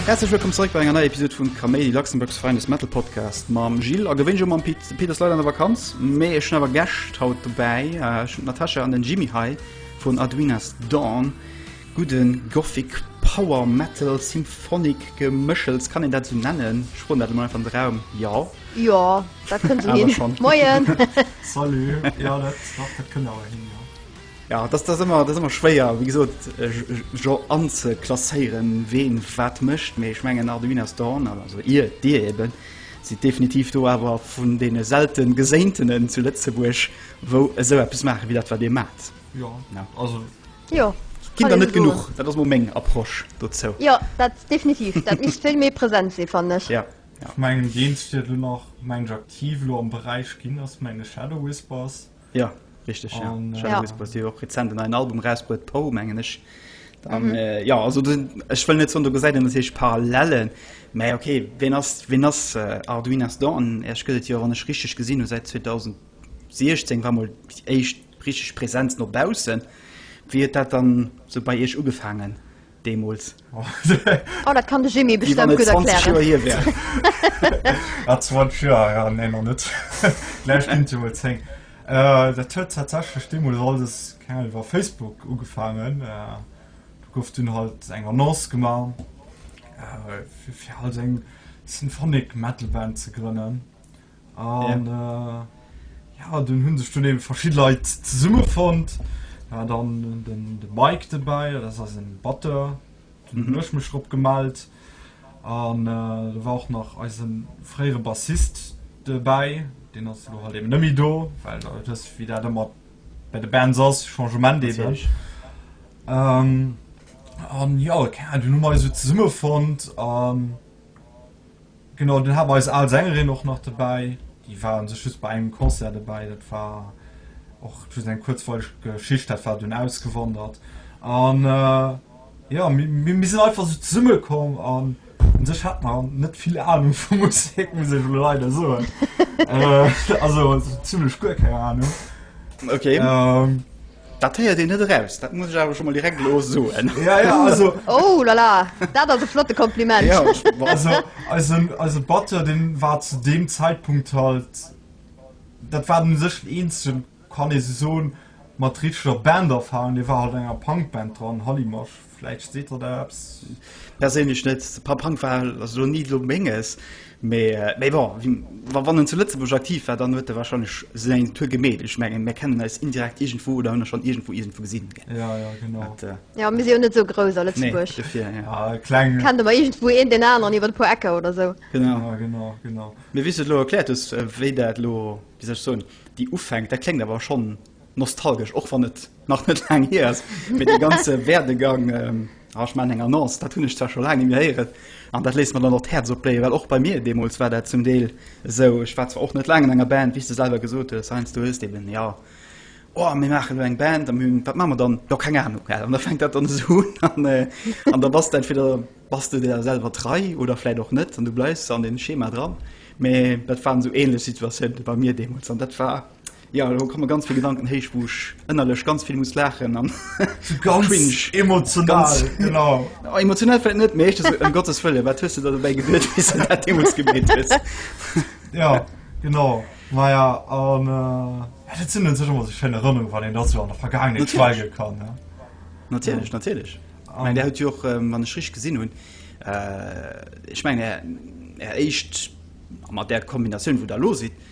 Herzlech wëllkomm zeréck bei enger neier Episode vun Kaméidi Luxemburgs Feindes Metal Podcast mam Gilles a gewéinnt mam Pit Peter Leider an der Vakanz méi ech awer Gäscht haut dobäi äh, Natascha an den Jimmy Hai vun Adwinas Dawn. Gudden Gothic Power Metal Symphonic Geméchels, kann een dat esou nennen? Ech froen dat elo mol einfach an de Raum, jo. Jo, dat kënnt esou hin. Moien! Salut! Jo, dat, dach, dat kënnt awer hin, jo. Ja, dat ass ëmmer, dat ass ëmmer schwéier, wéi gesot, Gen anzeklasséieren, ween wat mécht, mee ech mengen Arduin as Dawn, also ir, dir eben, sidd definitiv do awer vun deene selten Geséintenen zu Lëtzebuerg, wou esou eppes maachen, wéi dat wat dir maacht. Jo, also Jo. Ginn der net genuch, dat ass mol meng Approche dozou. Jo, dat definitiv. Dat misst vill méi present sinn, fannen ech. Jo. Vu mengen Games fir dunn nach mensch aktiv elo am Beräich ginn ass menge Shadow Whispers. Jo, richteg, jo. Shadow Whispers, déi hu jo och rezent en neien Album erausbruet, Poe mengen ech. An jo, also do sinn, ech wëll net soen, do gesäit een e Siège parallèle, mä ok, wien ass, wien ass Arduinas Dawn? Iech gëtt et jo, wann ech richteg gesinn hu, säit 2000. 2016 war mol déi éischt richteg Präsenz no baussen. Wéi huet dat dann sou bei Iech ugefaangen deemools? Oh, dat kann de Jimmy bestëmmt gutt erklären. Wéi wann et 20 Joer hier wär. Ah, 20 Joer, jo, nee, nach net. Gläich ginn et jo mol 10. Dat huet tatsächlech deemools alles, keng Ahnung, iwwer Facebook ugefaangen. Do gouf dunn halt eng Annonce gemaach, fir halt eng Symphonic Metal Band ze grënnen. An ja, dun hun sech dun eben verschidden Leit zesummen fonnt. Mir hat dann den Mike dobäi, dat ass eisen Batteur, dun hun ech mech drop gemellt. An do war och nach eisen fréieren Bassist dobäi, deen ass elo halt eben net méi do, well der huet wësst wéi dat ëmmer bei de Bands ass, Changement eben. An ja, dun hu mer eis esou zesummen fonnt. Genau, dann haten mer eis al Sängerin och nach dobäi, déi war un sech just bei engem Concert dobäi, dat war och just eng kuerzweileg Geschicht, dat war dunn ausgewandert an jo mir sinn einfach esou zesumme komm an un sech hat mer net vill Ahnung vu Musek, muss ech elo leider soen, also esou zimlech guer keng Ahnung. Ok. Dat héiert een net eraus, dat muss ech awer scho mol direkt elo soen. Ja, ja, also. Oh la la, dat ass e flotte Kompliment. Ja, also eisen, eise Batteur, dee war zu deem Zäitpunkt halt, dat war u sech den eenzegen, kann ee sou soen, mat richteg Banderfahrung, dee war halt an enger Punkband dran, Hallimasch. Vläicht seet der der eppes. Perséinlech net. Papp Hank war elo ni elo Menges, mee bon, wann en zu Lëtzebuerg aktiv war, dann huet e warscheinlech säin Tour gemeet. Ech mengen, mär kennen eis indirekt iergendwou oder hunn e schonn iergendwou iergendwou gesinn. Ja, ja, genau. Jo, mir si jo net esou grouss a Lëtzebuerg. Nee, dofir, jo. A kleng. Kennt ëmmer iergendwou een deen aneren iwwer e puer Ecker oder esou. Genau. Ja, genau, genau. Mee wéi s du et elo erkläert hues, wéi dat elo, wéi soll ech soen, déi Ufänk, dat kléngt awer schonn Nostalgesch, och wann et nach net laang hier ass, mee de ganze Werdegang, ähm, ah, ich mein, eng Annonce, dat hunn ech zwar scho laang nie méi héieren, an dat léisst mer dann och d'Häerz opbléien, well och bei mir deemools war dat zum Deel esou. Ech war zwar och net laang an enger Band, wéi s de selwer gesot hues, Heinz, du hues eben, ja, oh, mir maachen elo eng Band, an mir hunn, wat maache mer dann? Jo, keng Ahnung, well. An da fänkt dat dann esou un, an, äh, an da bass du entweder bass du der selwer trei oder vläit och net, an du bleifs an deem Schema dran. Mee dat waren esou ähnlech Situatiounen bei mir deemools, an dat war, Jo, elo kommen ganz vill Gedanken héich, wou ech ënnerlech ganz vill muss laachen an ganz emotional. Genau. Oh, emotional fällt net mécht um äh, Gottes Fëlle, wat hues du dat dobäi gewiert bis dat de muss gebet hues. Ja genau Maja an äh, sinn sech immer sech schënne Rënnung, wann en dat so an der Vergangenheet schweige kann. Ja. Natierlech ja. natierlech. Um. Mein, der huet Joch ähm, wann ech rich gesinn hunn. Äh, ech meng er, er éicht mat der Kombinatioun, wou der lo sitt.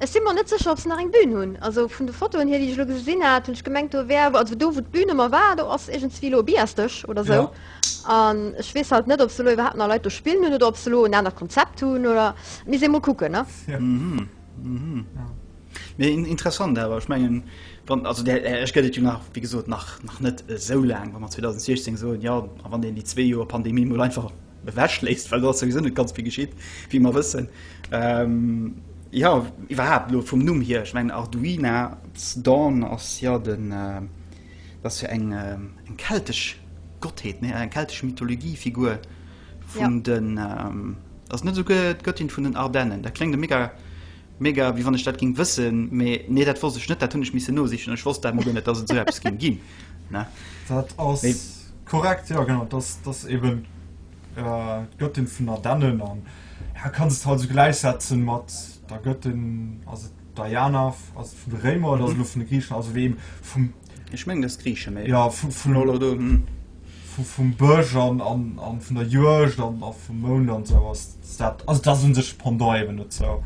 Ech si mer net sécher ob se nach eng Bühn hunn. Also vun de Fotoen hier déi ech elo gesinn hat hunn ech gemengt do wär, also do wou d'Bühn ëmmer war do ass iergendswéi elo e Biasdësch oder sou. Jo. An ech weess halt net ob se elo iwwerhaapt nach Leit do spillen hunn oder ob se elo en anert Konzept hunn oder, et misst ee mol kucken ne. Jo. Mee interessant awer, ech mengen wann, also der Esch gëtt et jo nach wéi gesot nach net esou laang, wa mer 2016 soen, jo a wann een déi zwee Joer Pandemie mol einfach ewechléisst, well do ass souwisou net ganz vill geschitt, wéi mer wëssen. Jo, iwwerhaapt elo vum Numm hier, ech mengen Arduina's Dawn ass jo den, dat ass jo eng keltesch Gottheet, nee, eng keltesch Mythologie-Figur vun den, ass et net esouguer d'Göttin vun den Ardennen? Dat kléngt e mega Mega, wéi wann ech dat ging wëssen, mee nee dat wosst ech net, dat hunn ech missen nosichen an ech wosst dat mol guer net dass et sou eppes ging ginn ne. Dat ass korrekt, jo genau, dass dass eben d'Göttin vun der Dennen an ja kanns et halt sou gläichsetzen mat der Göttin, ass et Diana ass et vun de Réimer oder ass et elo vun de Griichen, also wéi eben vum. Ech mengen dass Griiche, mee. Ja vun. vum Bësch an vun der Juegd an a vum Mound an sou ass dat ass dat un sech Pendant eben net zou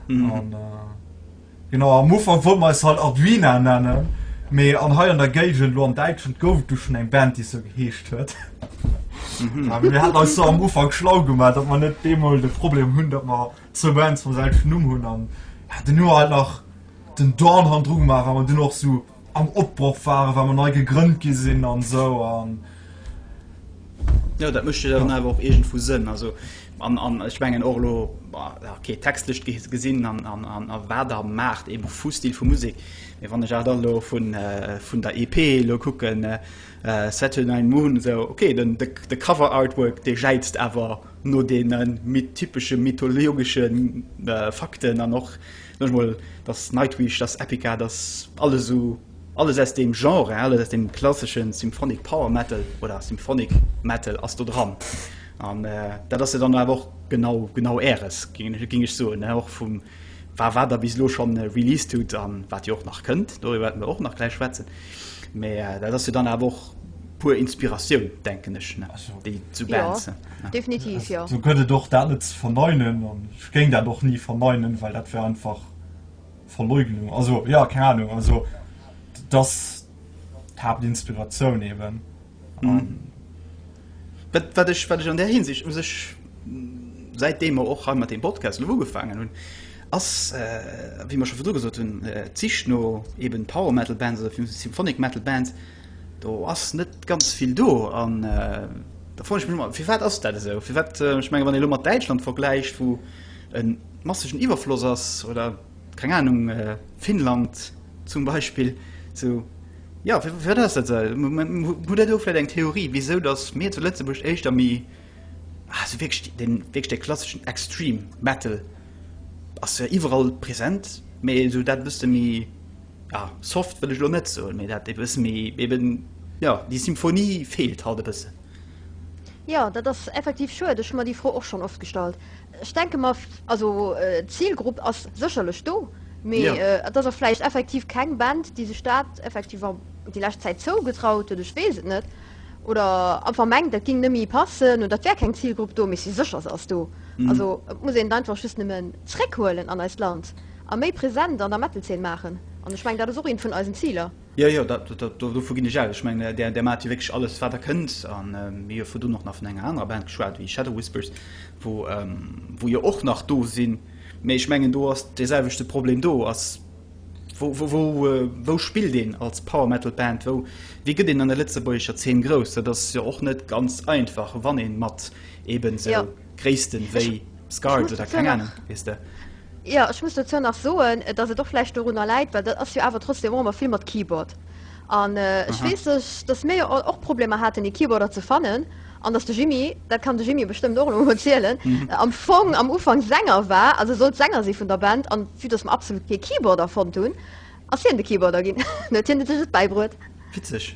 mhm. an äh, genau am Ufer wo me halt Arduina nennen méi an hei an der Gegen lo an Deitschen gouf du schon eng Band die so geheescht huet mhm. mir hat als am Ufer schlau gemeldt dat man net demol de Problem hunn dat man ze Bands vu selschen Numm hunn an den nur halt nach den Dorn han Drug machen an du noch so am Opbroch waren, wa mer nei gegrënnt gi sinn an esou an. Jo, dat mécht jo dann awer och iergendwou Sënn. Also, an, an ech mengen och elo, okay, textlech gesinn an, an, an, an wat der maacht, eben vu Stil vu Musek. Mee wann ech awer dann elo vun, vun der EP elo kucken, Saturnine Moon, esou, okay, den, de, de Cover-Artwork, dee jäizt awer no deene typesche mythologesche Fakten an och Net mol dass Nightwish, dass Epica, dass alles esou, alles aus deem Genre, alles aus deem klassesche Symphonic Power Metal oder Symphonic Metal ass do dran. An dat ass jo dann awer och genau, genau Äres, géing ech soen, och vum wa wat Der bis elo scho released hutt a wat Dir och nach kënnt, doriwwer wäerte mer och nach gläich schwätzen. Mä dat ass jo dann awer och puer Inspiratioun, denken ech, déi zu Bands. Definitiv, jo. Esou gëtt et och dat net ze verneinen an ech géing dat och ni verneinen, well dat wär einfach Verleugnung. Also, jo, keng Anung. Also, dat ass d'Haaptinspiratioun eben. Wat, wat ech, wat ech an där Hinsicht u sech, säitdem mer och hei mat deem Podcast elo ugefaangen hunn, ass, wéi mer scho virdru gesot hunn, d'Sich no eben Power Metal Bands oder Symphonic Metal Bands, Do ass net ganz vill do an da froen ech mech ëmmer, firwat ass dat esou? Firwat, ech menge wann ee elo mat Däitschland vergläicht, wou e massegen Iwwerfloss ass, oder keng Anung, Finnland zum Beispill, sou, jo, firwat ass dat esou? Hutt Der do vläicht eng Theorie, wisou datt mir zu Lëtzebuerg éischter méi esou wierklech dee wierklech dee klasseschen Extreme Metal ass jo iwwerall present, mee esou dat e bësse méi. ja, soft wëll ech lo net soen, mee dat e bësse méi eben, jo, déi Symphonie feelt halt e bëssen. Jo, dat ass effektiv schued. Ech hu mer déi Fro och schonn oft gestallt. Ech denke mer, also d'Zilgrupp ass sécherlech do, mee et ass och vläicht effektiv keng Band, déi sech dat effektiv déi lescht Zäit zougetraut huet, ech weess et net, oder einfach mengt, dat géing nemme passen oder et wär keng Zilgrupp do, mee si sécher, se ass do. Also et muss een et einfach just nëmmen zréckhuelen an eist Land. a méi present an der Metal-Zeen maachen. An ech mengen, dat ass och eent vun eisen Ziler. Jo, jo, dat, dat, do, dovun ginn ech aus. Ech mengen, Där, Där maacht jo wierklech alles, wat Der kënnt. A mir hu virdrun och nach vun enger anerer Band geschwat, wéi Shadow Whispers, wou, wou jo och nach do sinn. Mee ech mengen, do ass deeselwechte Problem. Do ass, wou, wou, wou, wou spillt een als Power Metal Band? Wou, wéi gëtt een an der lëtzebuergescher Zeen grouss? Dat ass jo och net ganz einfach, wann ee mat eeben esou. Gréissten wéi Scars oder keng Ahnung, weess de. Jo, ech muss dozou nach soen, dass et och vläicht dorunner läit, well dat ass jo awer trotzdem och ëmmer vill mat Keyboard. An ech weess ech, dass mir jo all och Problemer haten, ee Keyboarder ze fannen. An dass de Jimmy, dat kann de Jimmy bestëmmt och elo emol zielen, am Fong am Ufank Sänger war, also sollt Sänger si vun der Band. An vue dass mer absolut kee Keyboarder fonnt hunn, ass hien de Keyboarder ginn. Dann huet hien sech et bäibruet. Witzeg.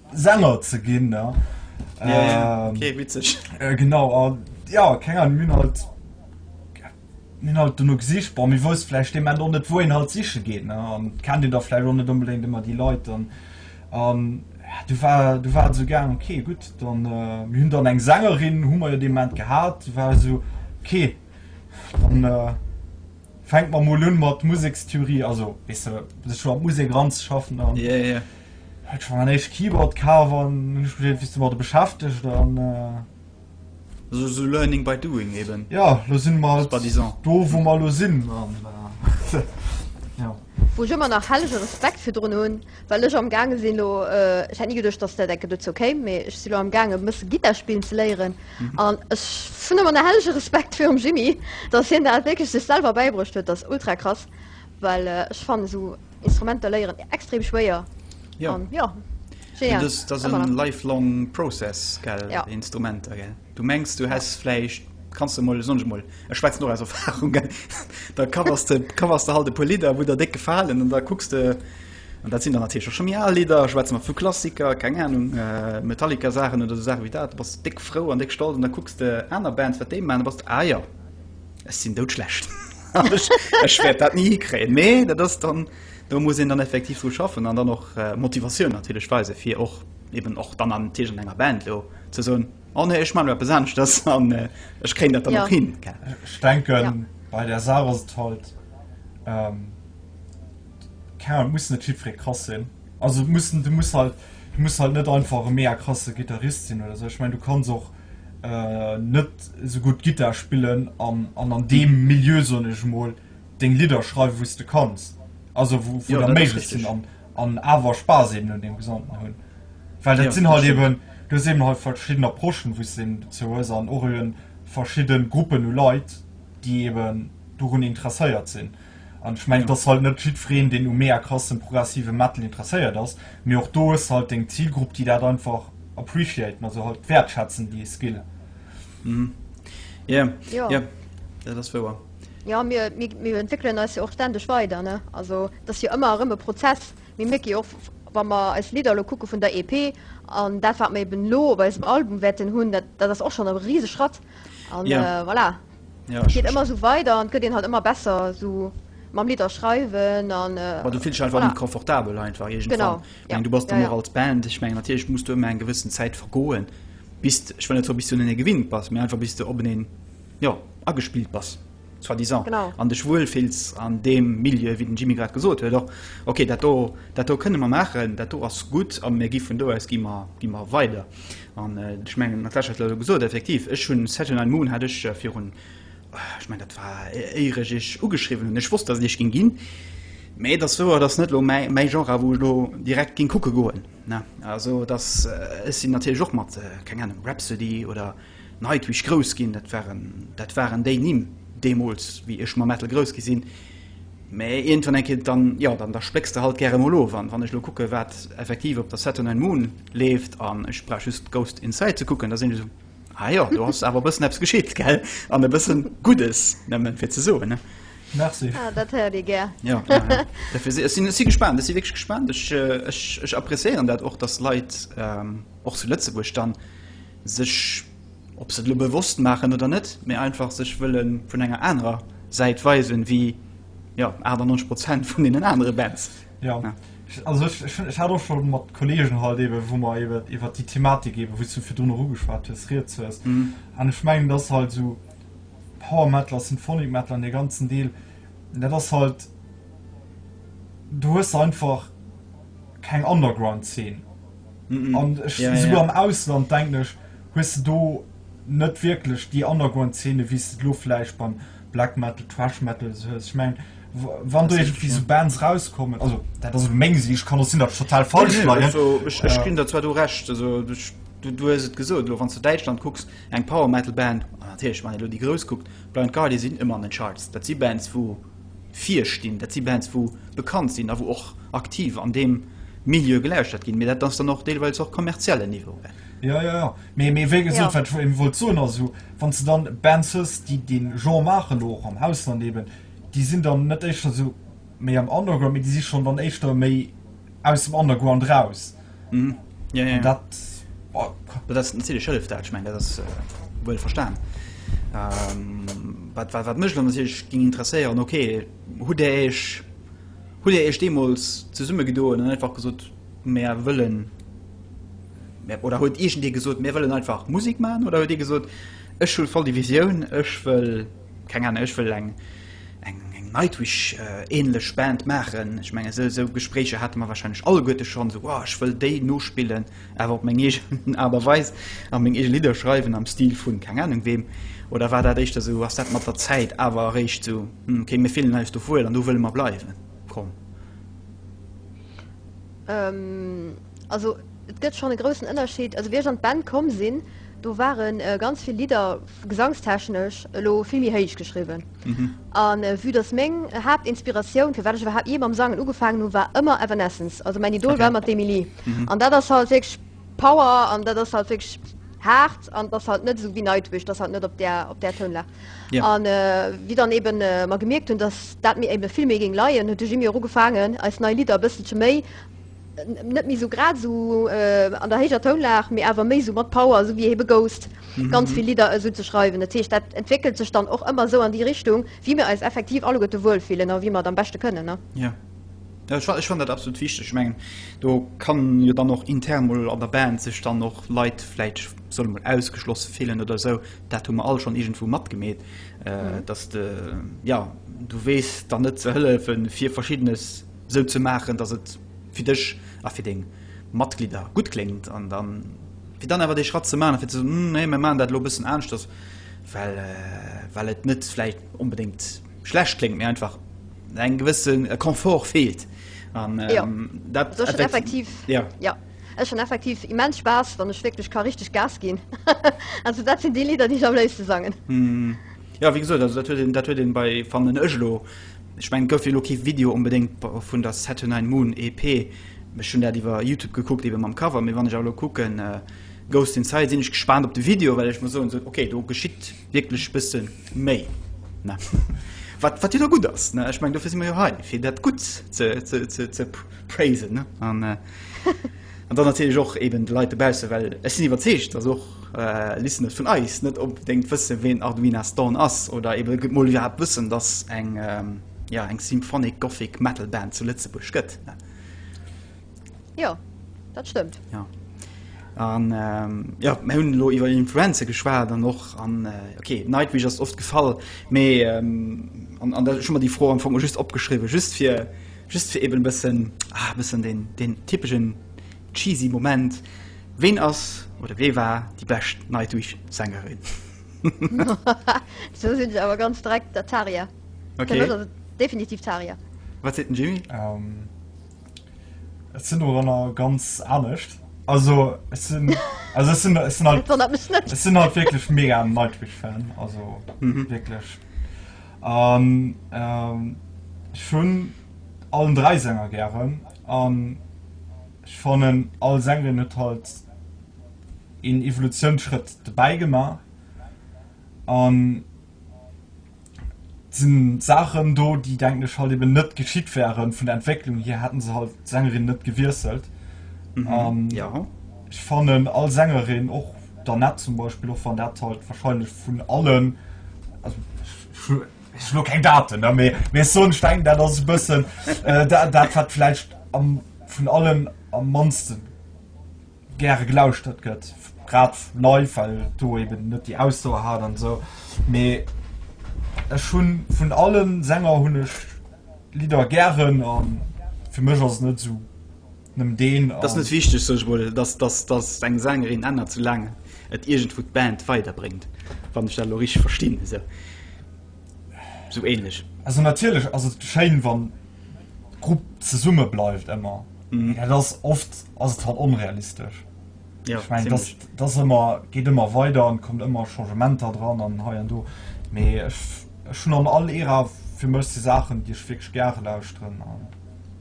Sänger ze ginn. Ja, ja, ja. Ähm, okay, witzig. Äh, genau, an ja, keine Ahnung, mir halt, mir halt du nur gesicht, boah, mir wussten vielleicht dem Ende auch nicht, wohin halt sicher geht, ne, und kennt ihr da vielleicht auch nicht unbedingt immer die Leute, und, und ja, du war, du war so gern, okay, gut, dann, äh, wir haben dann eine Sängerin, haben wir ja dem Moment gehabt, war so, okay, dann, äh, Fänkt mer mol un mat Musekstheorie, also weess de sech scho mat Musek eranzeschaffen an yeah yeah hat scho mein éischt Keyboard kaf an hun mech begéint wéis de mat der beschäftegt an euh Also sou learning by doing eben. Ja lo sinn mer halt do wou mer lo sinn an euh ja. Wou ech ëmmer nach hellege Respekt virdrun hunn. Well ech am gaange sinn elo, ech hätt ni geduecht dass dat enke dozou kéim, mee ech si lo am gaange e bësse Gittar spillen ze léieren an ech hunn ëmmer nach hellege Respekt virum Jimmy, dass hien dat wierklech sech selwer bäibruecht huet, dat ass ultra krass, well ech fannen esou Instrumenter léieren extrem schwéier an jo, genial, ëmmer nach. Lifelong process gell, Instrumenter gell. Du mengs du häss vläicht, kanns de mol, soen ech mol, ech schwätzen och aus Erfahrung, gell, da covers de, covers de halt e puer Lidder, wou der déck gefalen an da kucks de, an dat sinn dann natierlech och scho méi al Lidder, schwätze mer vu Klassiker, keng Anung, Metallica-Saachen oder esou Saache wéi dat, da bass de déck frou an déck stolz an da kucks de aner Bands, wat déi maachen, da bass de, ah jo, ech sinn doudschlecht, ech wäert dat ni hikréien. Mee dat ass dann, do muss een dann effektiv dru schaffen an dann och Motivatioun natierlech weisen, fir och. eben och dann an Tisch an enger Band lo ze soen, oh nee, ech maan elo eppes aneschtes an ech kréien dat dann och hin. Ech denken bei der Saach ass et halt, keng Ahnung, et muss net jiddweree krass sinn, also mussen, du muss halt, du muss halt net einfach e mega krasse Gittarist sinn oder sou, ech mengen du kanns och net sou gutt Gittar spillen an an deem Milieu, soen ech emol, deng Lidder schreiwen wou's de kanns, also wou wou der méiglech sinn an an awer Spaass eben un deem Gesamten hunn, well dat sinn halt eben, du hues eben halt verschidden Approchen wou's de dozou hues an och eben verschidden Gruppen u Leit déi eben dorun interesséiert sinn an ech mengen dass halt net jiddwereen deen u mega krassen progressiven Metal interesséiert ass, mee och do hues de halt deng Zilgrupp déi dat einfach appreciaten, also halt wäertschätzen déi Skill. Jo, dat ass wouer. Ja, mir, mir, mir entwéckelen eis jo och ständeg weider. Ne? Also dat ass jo ëmmer erëm e Prozess. Mir mierke jo och, wa mer eis Lidder elo kucke vun der EP an dat, wat mer eben elo op eisem Album wäerten hunn, dat, dat ass och schonn e riseg Schratt. An Ja, äh, voilà, ja, et ech, geet ech, ëmmer esou weider an et gëtt een halt ëmmer besser esou mam Lidder schreiwen an äh, ma du fills dech einfach méi voilà, confortabel einfach genau, iergendwann. Ech ja, mengen, du bass ja, dann och ja. als Band, ech mengen, natierlech muss do ëmmer eng gewëssen Zäit vergoen, bis, ech wëll net soen, bis du un en ee gewinnt bass, mee einfach bis du op en een jo, agespillt bass, soit disant, an dech wuel fills an deem Milieu, wéi den Jimmy grad gesot huet och, okay, dat do, dat do kënne mer maachen, dat do ass gutt a mir gi vun do aus gi mer, gi mer weider. An ech mengen, d'Natacha huet et elo gesot, effektiv, ech hunn Set in Ein Moon hat ech virun, ech mengen, dat war éier ech iech ugeschriwwen hunn, ech wosst, datt et iech géing ginn, mä et ass wouer, et ass net elo mäi, mäi Genre, wou ech elo direkt géing kucke goen, ne, also et ass, ech sinn natierlech och mat, keng Ahnung, Rhapsody oder. Neit wéi ech grouss ginn, dat waren, dat waren déi Nimm deemools, wéi ech mam Metal grouss gi sinn. Mä iergendwann eng Kéier, dann, jo, dann, da splécks de halt gäre mol of. An wann ech elo kucke wat effektiv op der Saturn and Moon leeft, an ech brauch just Ghost Inside ze kucken, da sinn ech esou, ah jo, do ass awer e bëssen eppes geschitt, gell? An e bëssen Guddes, nëmmen fir ze soen, ne? Merci. Ah, dat héiert ee gär. Jo, jo, jo. Dofir si, ech sinn, ech si gespaant, ech si wierklech gespaant. Ech, ech, ech appreciéieren dat och, dass Leit och zu Lëtzebuerg dann, sech, ob se et elo bewosst maachen oder net, mee einfach sech wëlle vun enger anerer Säit weisen, wéi, jo, 98 Prozent vun deenen anere Bands. Jo. Also ech, ech, ech hat och scho mat Kolleegen halt eebe wou mer eebe iwwert déi Thematik eebe, wou s du virdrun och ugeschwat hues, rieds hues. An ech mengen, dass halt esou Power Metal a Symphonic Metal an dee ganzen Deel, dat ass halt, do hues de einfach keng Underground Zeen. An ech, ja, souguer ja. am Ausland, denken ech, hues de do net wierklech déi Underground-Szene, wéi s de lo vläicht beim Black Metal, Thrash Metal esou hues. Ech mengen, wann do iergendwéi esou Bands rauskommen, also dat ass elo meng Siicht, kann och sinn, datt ech total falsch leien. Nee, nee, also ech ginn der zwar do Recht, also du hues et gesot, elo wann s de Däitschland kucks, eng Power-Metal-Band, an natierlech, wann een elo déi Grouss kuckt, Blind Guardian, si sinn ëmmer an den Charts. Dat si Bands, wou. virstinn. Dat si Bands, wou bekannt sinn a wou och aktiv an deem Milieu gelauschtert ginn. Mee dat ass dann och deelweils och kommerziellen Niveau. Jo, jo, jo. Mee, mee wéi gesot, wat ech eben wollt soen, ass, wann s de dann Bands hues, déi dee Genre maachen, elo och am Ausland eben, déi sinn dann net éischter esou méi am Underground, mee déi si schonn dann éischter méi, aus dem Underground raus. Mhm. Ja, ja. Dat, oh. dat ass den Zelle Schëllef dat, ich mein, dat ass äh, wuel verstan. Ähm, wat, wat, wat mech dann sech ging interesséieren okay hu der eich hu der eich demols ze summe gedoen einfach gesot mehr wëllen oder huet egent dir gesot mir wëllen einfach musik man oder huet dir gesot ech schul voll divisioun ech wëll Keng Ahnung, ech wëll eng Nightwish-ähnlech Band maachen. Ech mengen, esou Gespréicher hate mer warscheinlech alleguerte schonn, esou, Oh, ech wëll déi nospillen, awer op meng eegen Aart a Weis a meng eege Lidder schreiwen am Stil vu keng Ahnung weem. Oder war dat éischter esou, ass dat mat der Zäit awer eréischt esou, Hm, okay, mir fillen eis do wuel an do wëlle mer bleiwen komm? Also et gëtt schonn e groussen Ënnerscheed. Also wéi ech an d'Band komm sinn, do ware ganz vill Lidder gesangstechnesch elo vill méi héich geschriwwen. A vue datt meng Haaptinspiratioun, firwat ech iwwerhaapt jee mam Sangen ugefaangen hunn, war ëmmer Evanescence, also mäin Idol war ëmmer d'Emily. An dat ass halt wierklech Power an dat ass halt wierklech haart an et ass halt net esou wéi Nightwish, et ass halt net op där, op där Tounlag. Yeah. An wéi dann eben mer gemierkt hunn, dass dat mir eben vill méi géing leien, huet de Jimmy och ugefaangen eis nei Lidder e bësselche méi, net méi esou grad esou an der héijer Tounlag, mee awer méi esou mat Power, esou wéi Hebe Ghost, ganz vill Lidder esou ze schreiwen. Dat heescht, dat entwéckelt sech dann och ëmmer esou an déi Richtung, wéi mir eis effektiv alleguerte wuel fillen a wéi mer et am beschte kënnen, ne? Yeah. Ech fannen dat absolut wichteg. Ech mengen do kann jo dann och intern mol an der Band sech dann och Leit vläit solle mol ausgeschloss fillen oder esou. Dat hu mer all schonn iergendwou matgemeet, datt de jo du weess dann net ze hëllefe fir Verschiddenes esou ze maachen, datt et fir dech a fir deng Matglidder gutt kléngt an da fir dann awer dee Schratt ze maachen a fir ze soen, nee mir maachen dat elo e bëssen aneschters, well et net vläit onbedéngt. schlecht kléngt, mee einfach eng gewësse Komfort feelt. An, ähm, ja. dat, das effektiv, effektiv. Ja. Ja. Ech schon effektiv immens Spaß, wann ech wirklich ka richtig Gas ginn. also dat sinn déi Lieder, déi ech am léifste sangen. Mm. Ja wéi gesot, dat huet een, dat huet een bei van den ech lo. Ech mengen et gouf jo lo kee Video unbedéngt vun der Saturnine Moon EP. Ech hunn dat iwwer Youtube gekuckt, eben mam Cover, mee wann ech elo kucken, äh, Ghost Inside, sinn ech gespaant op de Video, well ech muss soen, so, okay, do geschitt Wierklech bëssen méi ne wat wat jo da gutt ass ne. Ech mengen dofir si mer jo hei fir dat Gutt ze ze ze ze praisen ne an an dann natierlech och eben de Leit dobausse well ech sinn iwwerzeegt datt och Listener vun eis net onbedéngt wësse ween Arduina's Dawn ass oder eben gutt mol iwwerhaapt wëssen datt eng ja eng Symphonic Gothic Metal Band zu Lëtzebuerg gëtt ne. Jo, dat stëmmt. Ja. An ähm, ja, mir hunn lo iwwer Influenze geschwaart an och an äh, okay, Nightwish ass oft gefall, méi ähm, an, an der schon mal die Fro am Fong just opgeschriwe, just fir just fir eben bëssen ah, bëssen den, den typischen cheesy Moment. Wen ass oder wee war die bescht Nightwish Sängerin? so sinn se awer ganz dreck der Taria. Okay. Definitiv Taria. Wat se den Jimmy? Um, Ech sinn doranner ganz anescht. Also ech sinn also ech sinn ech sinn halt Wonnert mech net. ech sinn halt wierklech mega Nightwish-Fan, also Mhm. wierklech. An ähm, ech hunn allen dräi Sänger gären an ech fannen all Sängerin huet halt een Evolutiounsschrëtt dobäi gemaach an, sinn Saachen do, déi denken ech halt eben net geschitt wären. Vun der Entwécklung hier hätten se halt d'Sängerin net gewiesselt. Mhm. Um, ja. Ech fannen all Sängerin och der net zum Beispiel och wann dat halt wahrscheinlich vun allen also, lo keng Daten méi mé so denken dat ass bëssen äh, dat, dat hat vielleicht am, vun allen am mansten gäre gelauschtert gëtt, grad live, well do eben net déi Ausdauer hat an esou. Mee ech hunn vun allen Sänger hunn ech Lidder gären an fir mech ass et net esou nëmmen deen. Et ass net wichteg, sot ech mol, dass dass dass eng Sängerin ännert, soulaang et iergendwou d'Band weiderbréngt, wann ech dat elo richteg verstinn esou. sou ähnlech. Also natierlech ass et schéin wann d'Grupp zesumme bleift ëmmer, mee dat ass oft ass et halt onrealistesch. Jo, Ech mengen dass zimlech. dass ëmmer geet ëmmer weider an kommt ëmmer Changementer dran an hei an do, mee ech ech hunn an all Ära fir mech si Saachen déi ech wierklech gare lauschteren an.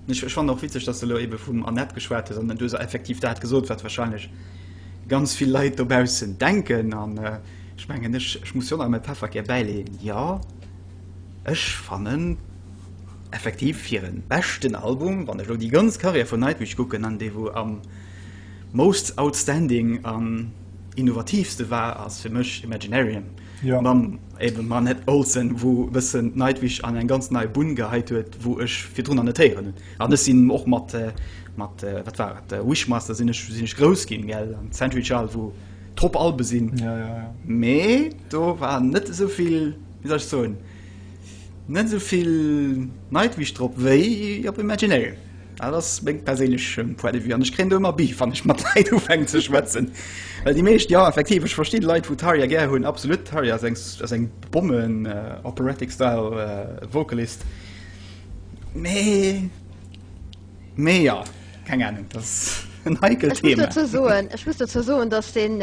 Ech ech fannen och witzeg dass de elo ebe vum Anett geschwat hues an du hues effektiv dat gesot wat wahrscheinlech ganz vill Leit dobaussen denken an. Ech mengen, ech muss jo nach mäi Pefferkär bäileeën, jo, ech fannen effektiv fir e beschten Album, wann ech elo déi ganz Karriär vun Nightwish kucken an dee wou am most outstanding an innovatiivste war, ass fir mech Imaginarium mam ebe Manette Olsen, wou e bëssen Nightwish an eng ganz nei Bunn geheit huet, wou ech virdrunner net héieren hunn. An ech sinn och mat, mat, wat war et, Wishmaster sinn ech, sinn ech grouss ginn, gell, an Century Child, wou. trop Albe sinn ja, ja, ja. mee do war net soviel wie soll ich so net soviel Nightwish drop wéi op Imaginary. Ah, das meng perélech ähm, Point de vue an ich kréint ëmmer Beef wann ech mat Leit ufänken ze schwätzen. Well déi meescht ja effektiv ech versti Leit vu Tarja gär hunn absolut Tarja ass eng s- ass eng Bomben äh, Operatic Style äh, Vocalist mee Mee ja, keng Ahnung, dat ass en heikelt Thema. Ech muss dozou soen, ech muss dozou soen, dass deen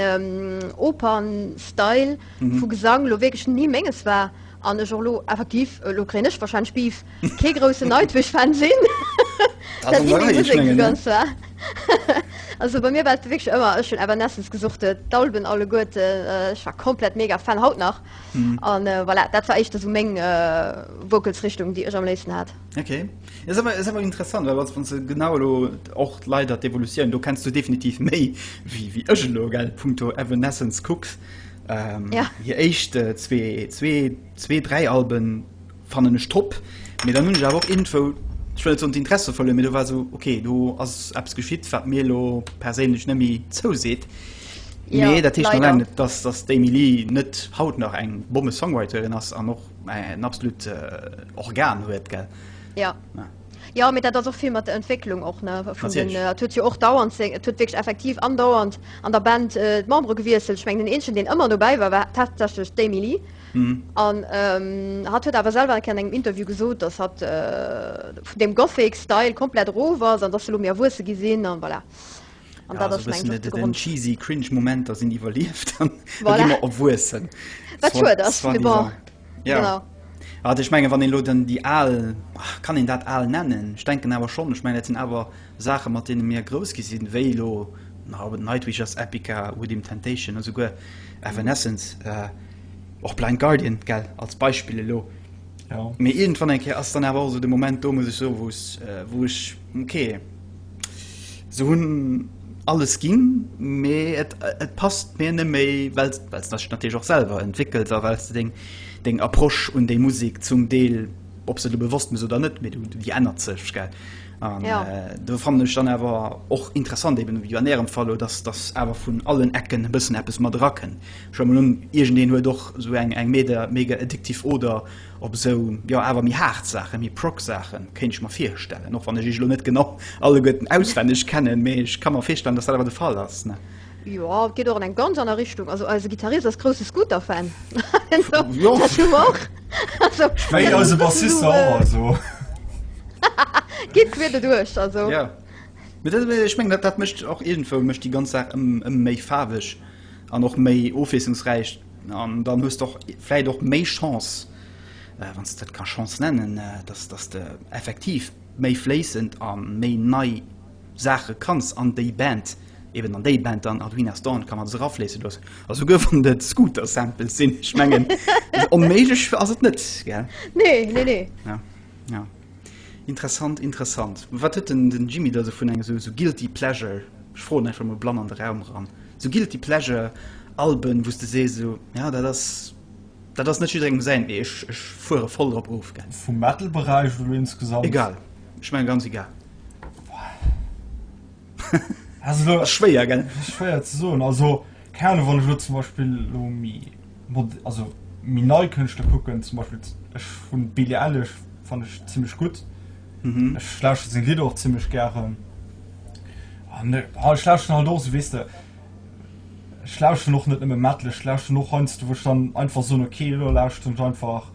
Opern-Style vu Gesang elo wierklech ni Menges war an ech och elo effektiv, elo kréien ech warscheinlech Beef, kee groussen Nightwish-Fan sinn. Dat ass déi Musek esou ganz war. Also bei mir war et wierklech ëmmer, ech hunn Evanescence gesucht, d'Alben alleguerten, ech war komplett mega Fan, haut nach. An voilà, dat war éischter esou meng Vocals-Richtung, déi ech am léifsten hat. Ok. Et ass awer interessant, well wann se genau elo och d'Leit an d'Evolutioun, do kenns du definitiv méi wéi ech elo punkto Evanescence kucks. Hir éischt zwee, dräi Alben fannen ech top, mee dann hunn ech awer och iergendwou, ech wëll net soen d'Interesse verluer, mee do war esou, ok, do ass eppes geschitt, wat mir elo perséinlech net méi zouseet. Mee dat heescht nach laang net, datt d'Amy Lee net haut nach eng Bommesongwriterin ass an och en absolut Organ huet gell. Ja. Ja. Ja, mee dat ass och vill mat der Entwécklung och, ne, vun den, Natierlech. et huet jo och dauernd seng, et huet wierklech effektiv andauernd an der Band d'Membere gewiesselt. Ech mengen den eenzegen deen ëmmer dobäi war, war tatsächlech d'Amy Lee an hatt huet awer selwer eng Kéier an engem Interview gesot, datt hatt vun deem Gothic Style komplett erof ass an datt se elo méi erwuesse gi sinn an voilà. An dat ass meng Grund. Den cheesy cringe Momenter sinn iwwerlieft an voilà. gi mer erwuessen. Wat schuet ass. Ja. Genau. Also ich menge wann en lo den déi al kann en dat al nennen ich denken awer schon ich meng dat sinn awer Saache mat deene mir grouss gi sinn wéi lo Nightwishers Epica Within Temptation a souguer Evanescence äh, och Blind Guardian gell als Beispille lo. Ja. Mee irgendwann eng Kéier ass dann awer so de Moment do muss ich so wou's äh, wou ich Okay. Se hunn alles ginn, mee et, et passt mir net méi, well s de dech natierlech och selwer entwéckels a well s de deng, deng Approche un déi Musek zum Deel, ob s de der bewosst bist oder net, mee du, déi ännert sech, gell? An ja. do fannen ech dann awer och interessant, eben ewéi an ärem Fall elo, dass, dass awer vun allen Ecken e bëssen eppes mat erakënnt. Ech huele mol un, iergendeen huet och esou eng, eng mega, mega addictive Oder. Op esou, jo, awer méi haart Saachen, méi Prog-Saachen, kéint ech mer virstellen, och wann ech iech elo net genau alleguerten auswenneg kennen, mee ech ka mer virstellen, datt dat awer de Fall ass, ne? Jo, et geet och an eng ganz aner Richtung. Also eise Gittarist ass grousse Scooter-Fan. Also, dat hu mer och. Also, Wéi eise Bassist och, also. Geet queer doduerch, also. Jo. Mee dat, ech mengen, dat, dat mécht och iergendwou, mécht déi ganz Saach ëm, ëm méi faarweg an och méi ofwiesslungsräich. An dann hues de och vläit och méi Chance, wann s de dat ka Chance nennen, dass dass de effektiv méi fléissend a méi nei Saache kanns an déi Band, eben an déi Band dann, Arduina Storn, ka mat es erafléisse loossen. A souguer wann et Scooter-Samples sinn, ech mengen, onméiglech ass et net, gell? Nee, nee, nee. Ja, ja. Interessant, interessant. Wat huet den den Jimmy da sou vun engem sou guilty pleasure, ech froen einfach mol blann an de Raum eran, sou guilty pleasure Alben wou s de sees sou ja dat ass dat ass net jidderengem säin mee ech ech fuere voll drop of gell? Vum Metal Beräich oder insgesamt? Egal, ech mengen ganz egal. Ass schwéier gell? Schwéier ze soen, also keine Ahnung wann ech lo zum Beispill lo mi. also méi nei Kënschtler kucken, zum Beispill ech hunn d'Billie Eilish fannen ech zimmlech gutt, ech lauschteren seng Lidder och zimmlech gären an ha ech lauschteren halt och esou weess de, ech lauschteren och net nëmme Metal, ech lauschteren och heiansdo wou ech dann einfach soen ok elo lauschteren ech einfach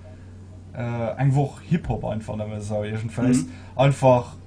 eng Woch Hip-Hop einfach nëmme esou iergendwéis einfach.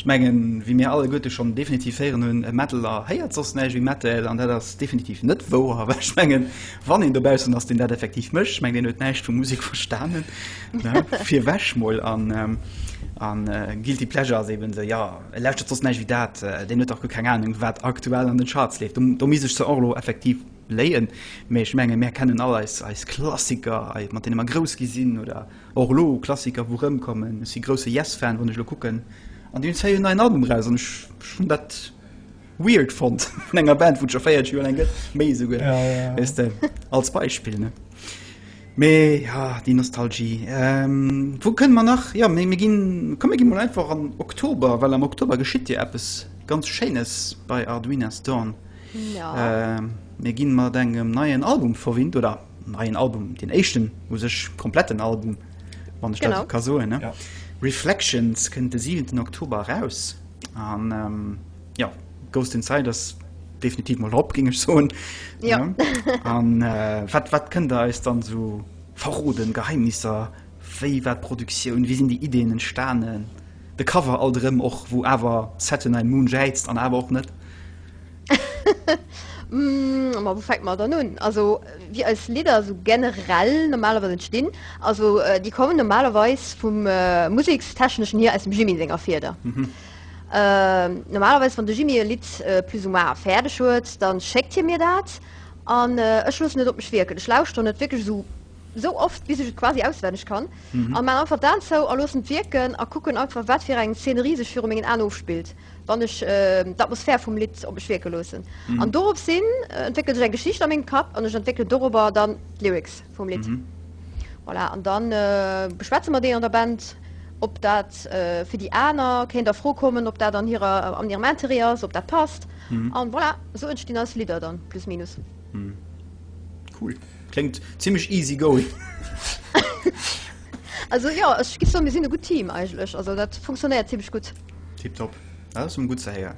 Ech mengen, wéi mir alleguerte schonn definitiv héieren hunn, e Metaller héiert soss näischt wéi Metal. An dat ass definitiv net wouer, well ech mengen, wann een dobaussen ass, deen dat effektiv mécht, ech mengen, deen huet näischt vu Musek verstanen. Virwech mol. A Guilty Pleasure ass eeben esou, jo, e lauschtert soss näischt wéi dat, deen huet dach guer keng Anung, wat aktuell an den Charts leeft. Do misst ech se och elo effektiv léien. Mee ech mengen, mir kennen all eis Klassiker, mat deene mer grouss gi sinn, oder? Och elo Klassiker wou rëm kommen. Ech si grousse Yes Fan wann ech elo kucken an déi hunn d'zéier en neien Album eraus an ech hunn dat weird fonnt vun enger Band wou et scho 40 Joer laang gëtt, méi esouguer weess de als Beispill ne. Mee jo déi Nostalgie wou kënne mer nach jo mir ginn komm mir gi mol einfach an Oktober well am Oktober geschitt jo eppes ganz Schéines bei Arduina's Dawn. Mir gi mat engem neien Album verwinnt oder? neien Album den éischten u sech kompletten Album wann ech dat ka soen. Ja. Reflections kënnt de 7. Oktober raus an ähm, ja Ghost Inside ass definitiv mal op ging ech soen. Ja. ja. An äh, wat wat kënnt der eis dann so verroden Geheimnisser, wéi wat Produktioun, wie sinn die Ideen entstanen? De Cover all rëm och, wou awer Saturn Moon jäizt an awer och net. Hm, ma wou fänkt mer dann un? Also wéi eis Lidder esou generell normalerweis entstinn, also déi kommen normalerweis vum Musekstechneschen hier aus dem Jimmy senger Fieder. Normalerweis wann de Jimmy e Lidd plus ou moins fäerdeg huet, da schéckt hie mir dat an ech loossen et op mech wierken. Ech lauschteren et wierklech esou esou oft bis ech et quasi auswenneg kann a maachen einfach d'Aen zou a loossen et wierken a kucken einfach wat fir eng Szenerie sech viru mengen Aen ofspillt. Wann ech d'Atmosphär vum Lidd op mech wierke loossen. An dorops hin entwéckelt sech eng Geschicht a mengem Kapp an ech entwéckelen dorobber dann d'Lyrics vum Lidd. Voilà, an da beschwätze mer déi an der Band, ob dat fir déi aner kéint a Fro kommen, ob dat an hirer, an hirem Interêt ass, ob dat passt. An voilà, esou entstinn eis Lidder dann, plus minus. Cool. Kléngt zimmlech easy going. Also jo, ech giff soen, mir sinn e gutt Team eigentlech. Also dat funktionéiert zimmlech gutt. Tip top. Dat ass emmer gutt ze héieren.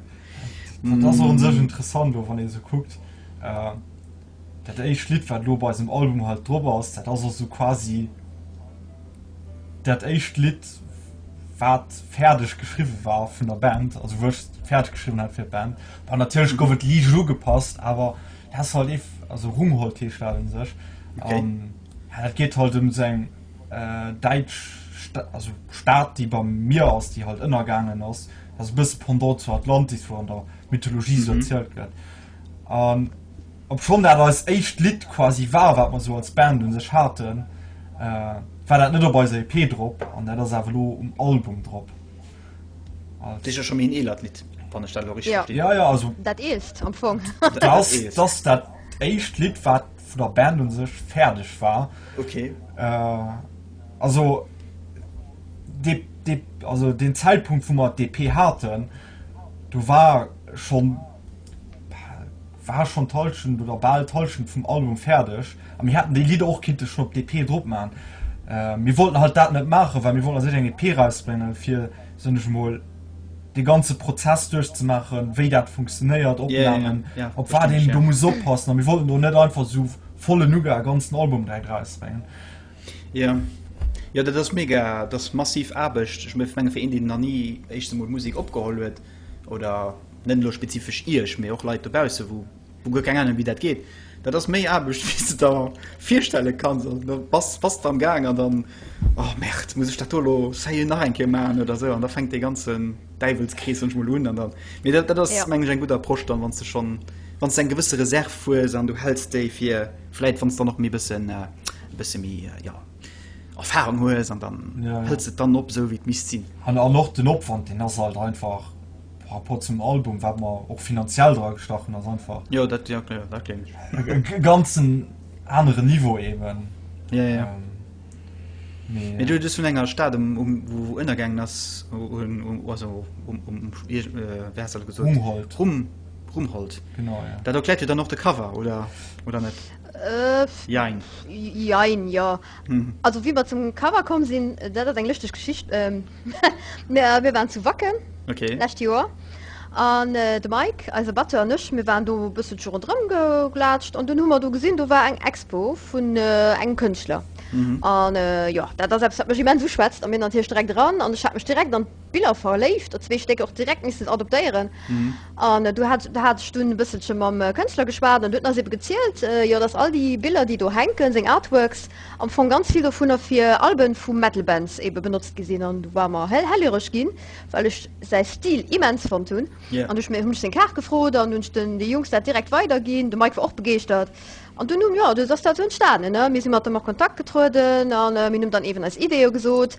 Dat ass och un sech interessant elo wann een esou kuckt, dat éischt Lidd wat elo bei eisem Album halt drop ass, dat ass och esou quasi dat éischt Lidd wat fäerdeg geschriwwe war vun der Band, also wou ech fäerdeg geschriwwen hat fir d'Band. Bon natierlech gouf et liicht ugepasst, awer dat ass halt ee, also Rumhold heescht dat un sech, an dat geet halt ëm seng. äh, däitsch Sta also Stad, déi beim Mier ass, déi halt ënnergaangen ass. Dat e bësse Pendant zu Atlantis, wou an der Mythologie esou mhm. erzielt gëtt. Ähm, ob schon dat als echt Lied quasi war wat man so als Band un sech hatten äh, war dat net op bei EP drop an der das Avelo um Album drop Dich schon een eelert Lied ja. ja, ja, also, dat eelst am Fong das, das, dat echt Lied wat vun der Band un sech fäerdeg war. Okay. Äh, also, de, de, also den Zäitpunkt, wou mer d'EP haten, do war schonn war schonn d'Hallschent oder bal d'Hallschent vum Album fäerdeg. A mir hätten déi Lidder och kinnte schonn op d'EP drop maachen. Äh, mir wollten halt dat net maachen, well mir wollten eis net eng EP erausbréngen, fir, soen ech emol, de ganze Prozess duerchzemaachen, wéi dat funktionéiert, Opnamen, op wat een do muss oppassen. A mir wollten do net einfach esou vollen Uge e ganzen Album dräi drausbréngen. Jo, jo, dat ass mega, dat ass massiv Aarbecht. Ech menge fir een, deen nach ni éischtens emol Musek opgeholl huet oder net elo spezifesch Iech, mee och Leit dobausse wou. Hun guer keng Ahnung wéi dat geet. Dat ass méi Aarbecht wéi s de der virstelle kanns. Also da bass bass de am Gaang an dann, oh Merde, muss ech dat do lo sérieux nach eng Kéier maachen oder esou. An da fänkt dee ganzen Däiwelskrees sonnech mol un. An dann, mee dat dat ass Ja. mengen ech eng gutt Approche dann, wann s de schonn, wann s de eng gewësse Reserv hues an du häls déi fir vläit wann s dann och méi bëssen, e bësse méi, jo, Erfahrung hues an dann Ja, ja. häls de d'dann op esou wéi et misst sinn. An an och den Opwand deen ass halt einfach. par rapport zum Album wat mer och finanziell dra gestachen ass einfach jo, dat, ja, okay, dat gleef ech. e ganzen anere Niveau eben. Ja, ja. Ähm, Mee du hues vun enger Stad um, um, wo, wo ënnergaangen ass um, um, also, um, um, um, äh, gesot Rumhold. Rum, Rumhold. Genau, ja. Dat erkläert jo dann och de Cover oder, oder net? Äh, jein. Jein, ja. Also wéi mer zum Cover komm sinn, dat ass eng lëschteg Geschicht. Mir waren zu Wacken d'lescht Joer an de Mike, eise Batteur, an ech, mir waren do e bësselche ronderëm geglatscht an dunn hu mer do gesinn, do war eng Expo vun engem Kënschtler. An jo, dat ass eppes, wat mech immens uschwätzt an mir natierlech direkt eran an ech hat mech direkt an Biller verléift, der zwee Stécker och direkt missten adoptéieren. An do hat, hat ech dunn e bësselche mam Kënschtler geschwat an du huet eis ebe gezielt, jo, datt all déi Biller, déi do hänken, seng Artworks, am Fong ganz vill dovunner fir Albe vu Metal-Bands ebe benotzt gi sinn. An du war mer hell, hellhireg ginn, well ech säi Stil immens fonnt hunn. An du ech mir, hunn ech seng Kaart gefrot an du hunn ech den, de Jungs dat direkt weiderginn. De Mike war och begeeschtert. An dunn hu, jo, du ass dat esou entstanen. Mir si mat em a Kontakt getrueden an mir hunn em dann eeben eis Ideeë gesot.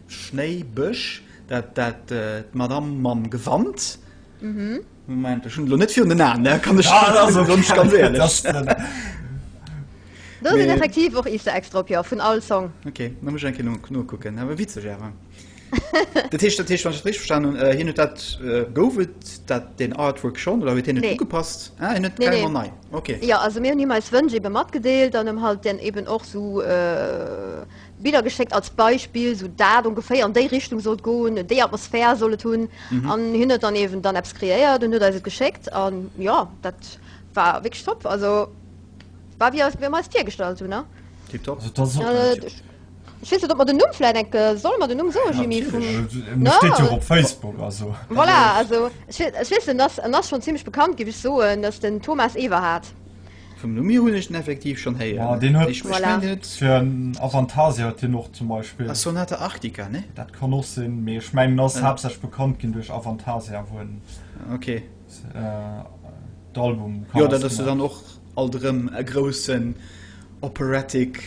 Schnéi Bësch dat dat d'Madame mam Gewand. Moment ech hunn elo net virun den Aen, ne kann ech ganz ganz éierlech. Do sinn effektiv och Easter Eggs drop, jo, vun all Song. Ok, da muss ech eng Kéier no nokucken, awer witzeg awer. Dat heescht, dat heescht wann ech dat richteg verstanen hunn, hien huet dat, gouf et dat den Artwork schonn oder huet hien et ugepasst? Ah, hien huet et carrément nei, ok. Jo, also mir hunn him eis Wënsch ebe matgedeelt an ëm halt dann eben och esou Biller geschéckt als Beispill, sou dat ongeféier an déi Richtung sollt goen, déi Atmosphär soll et hunn. An hien huet dann eben dann eppes kreéiert an huet eis et geschéckt. A jo, dat war wierklech top. Also war wéi mir eis virgestallt hunn, ne? Tiptop. Also dat ass och ganz flott. Ech weess net, ob mer den Numm vläicht eng. Solle mer den Numm soen, Jimmy? Natierlech. Mir steet jo och op Facebook, also. Voilà, also ech weess, en ass schonn zimmlech bekannt, géif ech soen. Dat ass den Thomas Everhardt. Vum Lumi hunn ech den effektiv schonn héieren. Deen huet ech meng net. Fir en Avantasia huet hien och zum Beispill. A Sonata Arctica, nee? Dat kann och sinn, mee ech mengen en ass haaptsächlech bekannt ginn duerch Avantasia, wou en d'Album-Covers gemaach huet. Jo, dat ass jo dann och alt erëm e groussen Operatic.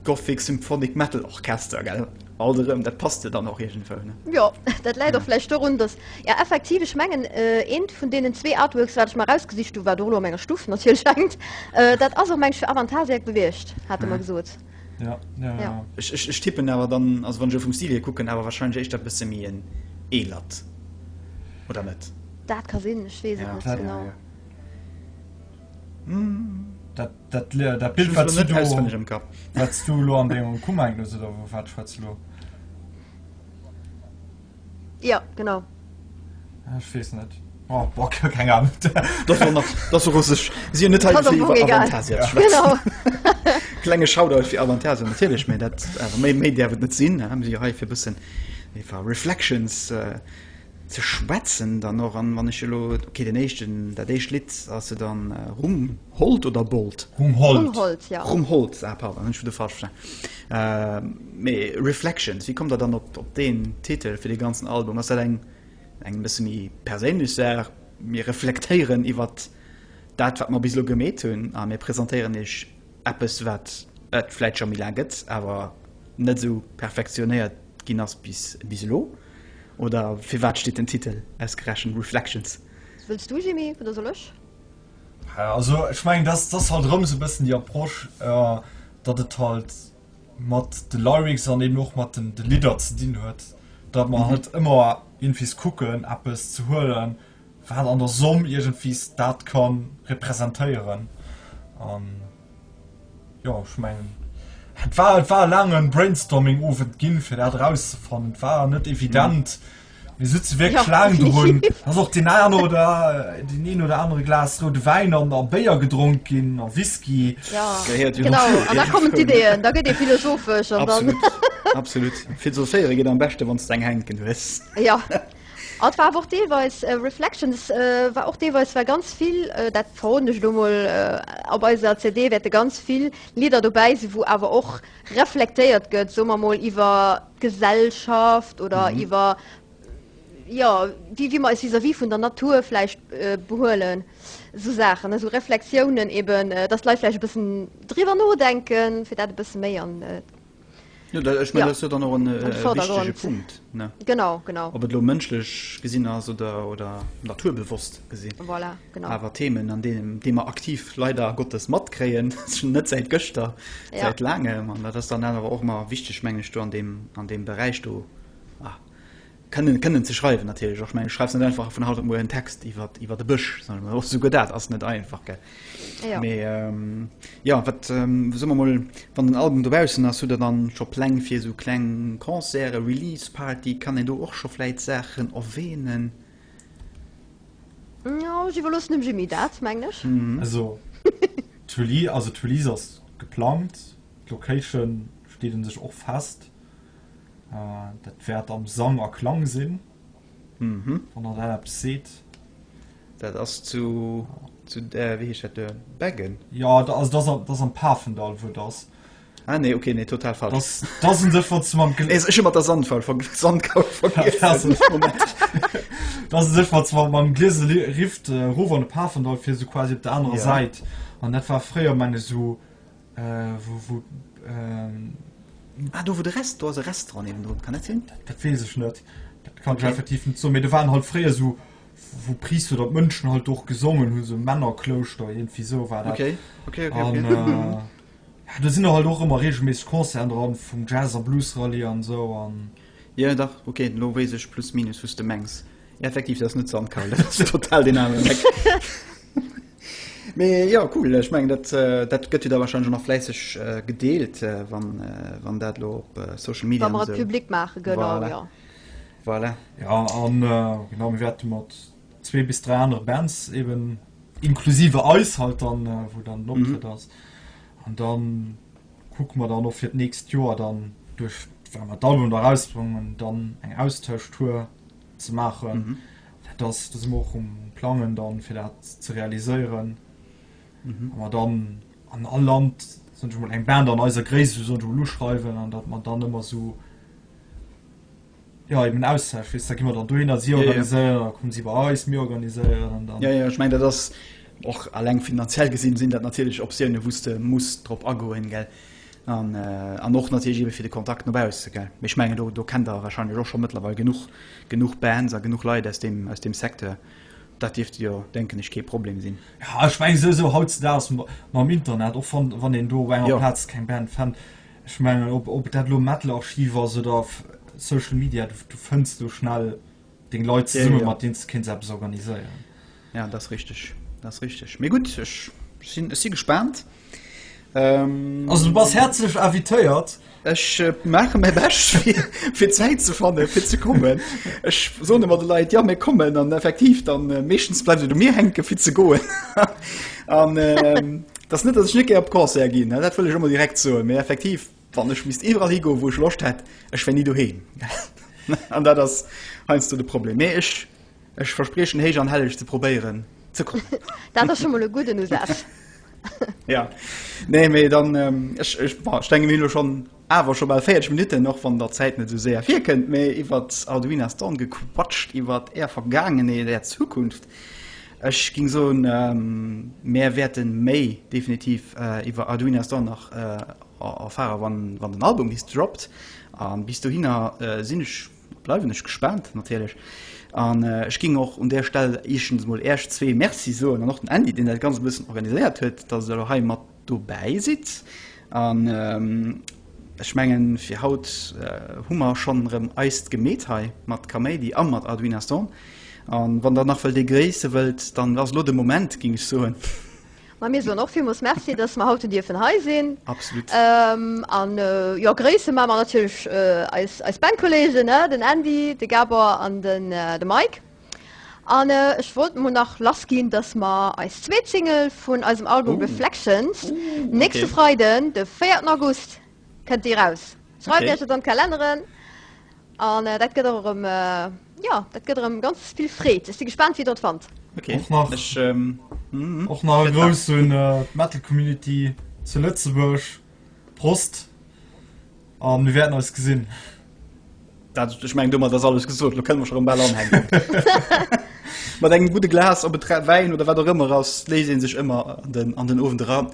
Gothic Symphonic Metal Orchester, gell? Alt erëm, dat passt jo dann och iergendwou, ne? Jo, dat läit och vläicht dorun, dass, jo, effektiv, ech mengen, eent vun deenen zwee Artworks, wat ech mer erausgesicht hu, wat och elo an menger Stuff natierlech hänkt, dat ass och, meng ech, fir Avantasia gewiescht, hate mer gesot. Jo, jo, jo. Ech tippen awer dann, also wann ech elo vum Stil hier kucken, awer warscheinlech éischter e bësse méi en eelert, oder net? Dat ka sinn, ech weess et net genau. Dat. Dat, le- dat Bild, wat du do, wat du lo an dengem Kummer hues, oder vu wat schwätz lo? Ja, genau. Ah, ech weess net. Oh, boah, ke- keng Ahnung. Das war nach, das war russisch. Sie net Kann doch nur egal. Ja. Genau. Klenge Shoutout fir Avantasien natierlech, méi dat awer méi méi däerf et net sinn. Haben si hei fir bëssen iwwer Reflections äh, Ze schwätzen dann och an wann ech elo okay den éischten dat éischt Lidd ass jo dann Rum Holt oder Bolt? Rum Holt. Rum Holt ah pardon hunn ech vudder falsch verstanen mee Reflections wéi kommt der dann op op deen Titel fir de ganzen Album? Ass dat eng eng bësse méi perséinlech Saach mir reflektéieren iwwert dat wat mer bis elo gemeet hunn a mir presentéieren iech Eppes wat et vläit scho méi laang gëtt, awer net esou perfektionéiert ginn ass bis elo? Oder firwat steet den Titel ausgerechent Reflections? Wëlls du Jimmy, oder soll ech? Also ech mengen dat ass halt erëm esou e bëssen déi Approche, datt et halt mat de Lyrics an eben och mat de Lidder ze dinn huet, datt mer halt ëmmer iergendwees kucken eppes ze huelen, wat an der Somm iergendwéi dat ka representéieren an jo ech mengen et war et war e laangen Brainstorming Owend ginn fir dat erauszefannen. Et war net evident. Mhm. Mir sitze wéi Schlang drun ass och den an oder äh, den een oder andere Glas roude Wäin an a Béier gedronk ginn a Whisky da kommen d'Ideeën, da gëtt ee philosophesch an dann absolut filosophéiere ginn am beschte wann eng Hänken hues. Ja An et war awer och deelweis, Reflections war och deelweis, war ganz vill, dat verroden ech elo mol, op eiser CD wäerte ganz vill Lidder dobäi sinn, wou awer och reflektéiert gëtt, soe mer mol, iwwer d'Gesellschaft oder iwwer, jo, wéi mer eis vis-à-vis vun der Natur vläicht behuelen. Esou Saachen, esou Reflexiounen eben, dass d'Leit vläicht e bëssen driwwer nodenken, fir dat e bësse méi an. Jo, da, ech mein, ja. dann och en wichtege Punkt ne? Genau, genau. Ob et lo mënschlech gesinn ass oder, oder naturbewosst gesinn. Voilà, genau. Awer Themen an deem dee mer aktiv leider Gottes matkréien net säit gëschter ja. säit laangem an dat ass dann awer och mar wichteg mengg ech do an dem, an dem Beräich do. Kënnen, kënnen ze schreiwen natierlech och. Ech mengen, du schreifs net einfach vun haut op muer en Text iwwer, iwwer e Bësch, soen ech mol. Och souguer dat ass net einfach, gell? Jo. Mee jo, wat, soe mer mol, wann den Album dobaussen ass, hutt Der dann scho Pläng fir esou kleng Concerten, Release-Party? Kann een do och scho vläit Saachen erwähnen? Jo, ech iwwerloossen dem Jimmy dat, mengen ech. Also d'Release, also d'Release ass geplangt, d'Location steet un sech och fest. Dat wäert am Sang a Klang sinn, wann der dat eppes seet. Dat ass zu, wéi heescht dat do, Beggen? Jo, also dat ass am Pafendall, wou et ass. Ah nee, okay, nee, total falsch. Dat ass en Dërf, wat ze mam. Ech hu mat der Sandfall vergl-, Sandkaul vergiessen. Dat ass en Dërf, wat ze mam, mam Glieselift erof an de Pafendall fir, esou quasi op der anerer Säit. An dat war fréier, meng ech, esou. Do wou de Rest, do ass e Restaurant niewendrun, kann dat sinn? Dat weess ech net, dat kann ech effektiv net soen, mee do waren halt fréier esou wou Priister oder Mënschen halt och gesongen hunn, esou Männerklouschter, iergendwéi esou war dat. Okay, okay, okay, okay. An jo, do sinn halt och ëmmer reegelméisseg Concerten dran vum Jazz a Blues Rallye an esou an. Jo dach, okay, elo weess ech plus minus wou s de mengs. Effektiv, dat ass net Sandkar, dat ass total deen aneren Eck. Mee jo cool, ech mengen dat dat gëtt jo da wahrscheinlech och nach fläisseg gedeelt wann wann dat elo op Social Media an esou. Wa mer et public maachen, genau jo. Voilà. Jo an genau mir wäerte mat zwee bis dräi anere Bands eben inklusive eis halt dann wou dann den Optrëtt ass an dann kucke mer dann och fir d'nächst Joer dann duerch wa mer d'Album da erausbréngen dann eng Austauschtour ze maachen. Dat ass, do si mer och um Plangen dann, fir dat ze realiséieren. Wa mer dann an all Land, soen ech emol, eng Band an eiser Gréisst, soen ech emol, uschreiwen an datt mer dann ëmmer esou, jo, eben en Austausch, weess, da gi mer dann dohinner, si organiséieren, da komme si bei eis, mir organiséieren an dann. Jo, jo, ech mengen, dat ass och eleng finanziell gesinn, sinn dat natierlech Optiounen, wou s de muss drop agoen, gell. An och natierlech ebe fir de Kontakt no bausse. Mee ech mengen, do kennt Der warscheinlech och scho mëttlerweil genuch, genuch Bands a genuch Leit aus deem, aus deem Secteur. Dat dierft jo, denken ech, kee Problem sinn. Jo, ech mengen souwisou hautzedaags mam Internet, och wann, wann een do op enger Plaz keng Band fënnt, ech mengen, ob, ob dat elo Metal Archiv ass oder Social Media, du, du fënns do schnell. deng Leit ze summe mat deen ze kéint se eppes organiséieren. Ja dat richteg dat richteg mé gut ech sinn ech si gespannt. Ähm, also du bass herzlech invitéiert. Ech äh, mache mé bech fir Zäit ze fanne fir ze kommen. Ech so mat de Leiit ja mé kommen an effektiv dann äh, meeschtens bleiwe du mir henke fir ze goen an äh, dat net dat ech net ge op Kor ginn. Dat wëll ech ëmmer direkt zo so. mé effektiv. Wann ech misst iwwerall higoen, wou ech Loscht hätt, ech wär ni doheem. An dat ass heiansdo de Problem. Mee ech, ech verspriechen héich an helleg ze probéieren ze kommen. Dat ass scho mol e gudden Usaz. Ja. Nee, mee dann, ech, ech, bon, ech denken, mir hunn elo schonn awer scho bal 40 Minutten, och wann der Zäit net esou séier virkënnt, mee iwwer d'Arduina Stone gequatscht, iwwer Är Vergaangenheet, Är Zukunft. Ech géing soen, mär wäerte méi definitiv iwwer Arduina Stone nach Erfahrer wann wann den Album bis droppt an bis dohinner sinn ech bleiwen ech gespaant natierlech an ech ging och un där Stell eeschtens mol äerch zwee Merci soen an och den Andy deen dat ganz e bëssen organiséiert huet dass der lo hei mat dobäi sidd an ech mengen fir haut hu mer schonn erëm eist gemeet hei mat Kaméidi a mat Arduin Aston an wann der nach wëllt ee gréisse wëllt dann ass lo de Moment ging ech soen. Ma mir soen och villmools Merci, dass mer haut dierfen hei sinn. Absolut. A jo, gréisse ma mer natierlech eis Bankkolleegen, den Andy, de Gabor an de Mike. An ech wollt mol nach lass ginn, dass mer eis zweet Single vun eisem Album Reflections nächste Freiden, de 4 August kënnt déi raus. Schreift Iech et an d'Kalenneren. An dat gëtt och erëm, jo, dat gëtt erëm ganz vill Freed. Ech si gespaant, wéi der et fannt. Och nach, ech och nach e Grouss un d'Metal Community zu Lëtzebuerg. Prost a mir wäerten eis gesinn. Dat, ech mengen, domat ass alles gesot. Elo kënne mer scho erëm bal anhänken. Mat engem gudde Glas op e Trait Wäin oder wat och ëmmer ass, léisst ee sech ëmmer an den Owend eran.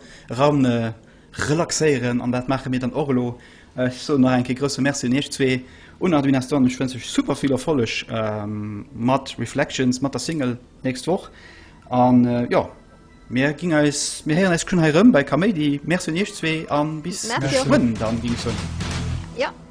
relaxéieren an dat maache mir dann och elo. Ech soen nach eng Kéier grousse Merci un iech zwee, un Arduinastorm. Ech wënsch iech super vill Erfolleg mat Reflections, mat der Single d'nächst Woch an jo mir ginn eis, mir héieren eis schon hei rëm bei Kaméidi. Merci un iech zwee an bis geschwënn dann, ginn ech soen.